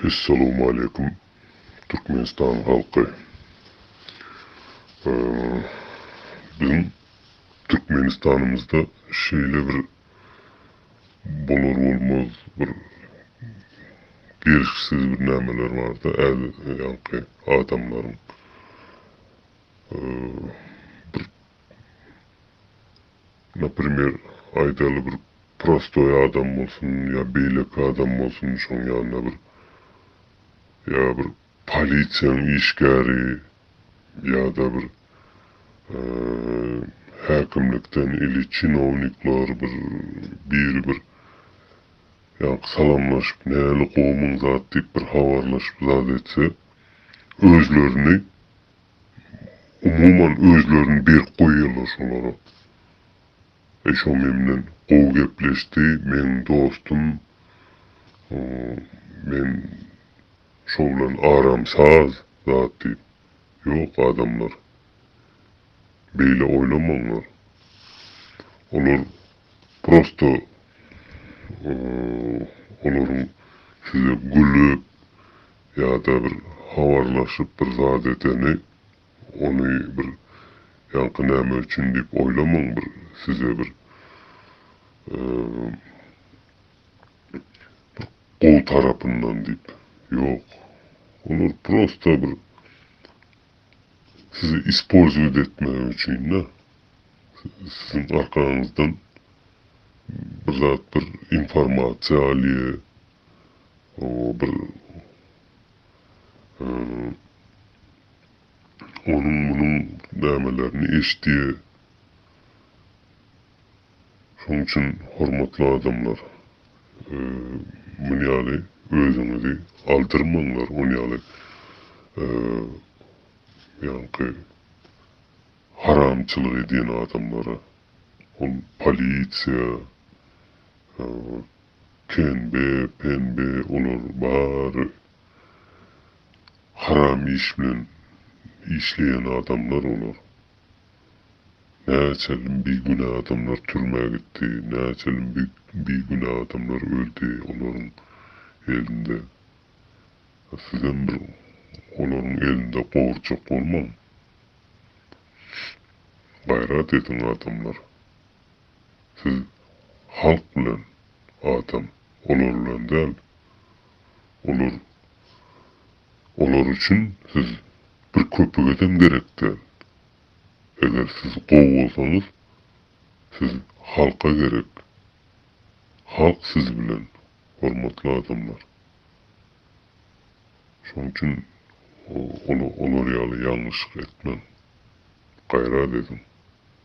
Essalowmaleýkum Türkmenistan halky. Biziň Türkmenistanymyzda şeýle bir bolar bolmaz bir gelşiksiz bir nämeler barda ýaňky adamlaryň bir Naprimer, aýdaly bir prostoý adam bolsun ýa beýleki adam bolsun, şoň ýanynda bir ýa bir polisiýanyň işgäri ýa-da bir häkimlikden ili çinownikler bir biri bir ýaňky salamlaşyp näli gowumyň zat diýip bir habarlaşyp zat etse özlerini Umuman özlerini berk goýýarlar şolara. Şo memnen gowy gepleşdi meň dostum men şo bilen aram saz zat diýip ýok adamlar beýle oýlamaňlar olar prosto olaryň size gülüp Ýa-da bir habarlaşyp bir zat edeni, ony bir ýaňky näme üçin diýip oýlamaň, bir size bir bir gowy tarapyndan diýip, ýok, olar prosta bir sizi ispolzowat etmek üçin-de, siziň arkaňyzdan bir zat bir informasiýa alýa. bir onuň-munuň nämelerini eşidýär. Şonuň üçin hormatly adamlar, muny ýaly özüňizi aldyrmaňlar, ony ýaly ýaňky haramçylyk edýän adamlara, ol polisiýa, Penbe penbe olar bary haram iş bilen işleýän adamlar olar. Näçe bigünä adamlar türmä gitdi, näçe bigünä adamlar öldi olaryň elinde. Sizem bir olaryň elinde gorjak bolmaň. Gaýrat ediň adamlar. Siz halk bilen atam, olar bilen däl. Olar olar üçin siz bir köpügedem gerek däl. Eger siz gowy bolsaňyz, siz halka gerek. Halk siz bilen, hormatly adamlar. Şonuň üçin olar ýaly ýalňyşlyk etmäň. Gaýrat ediň.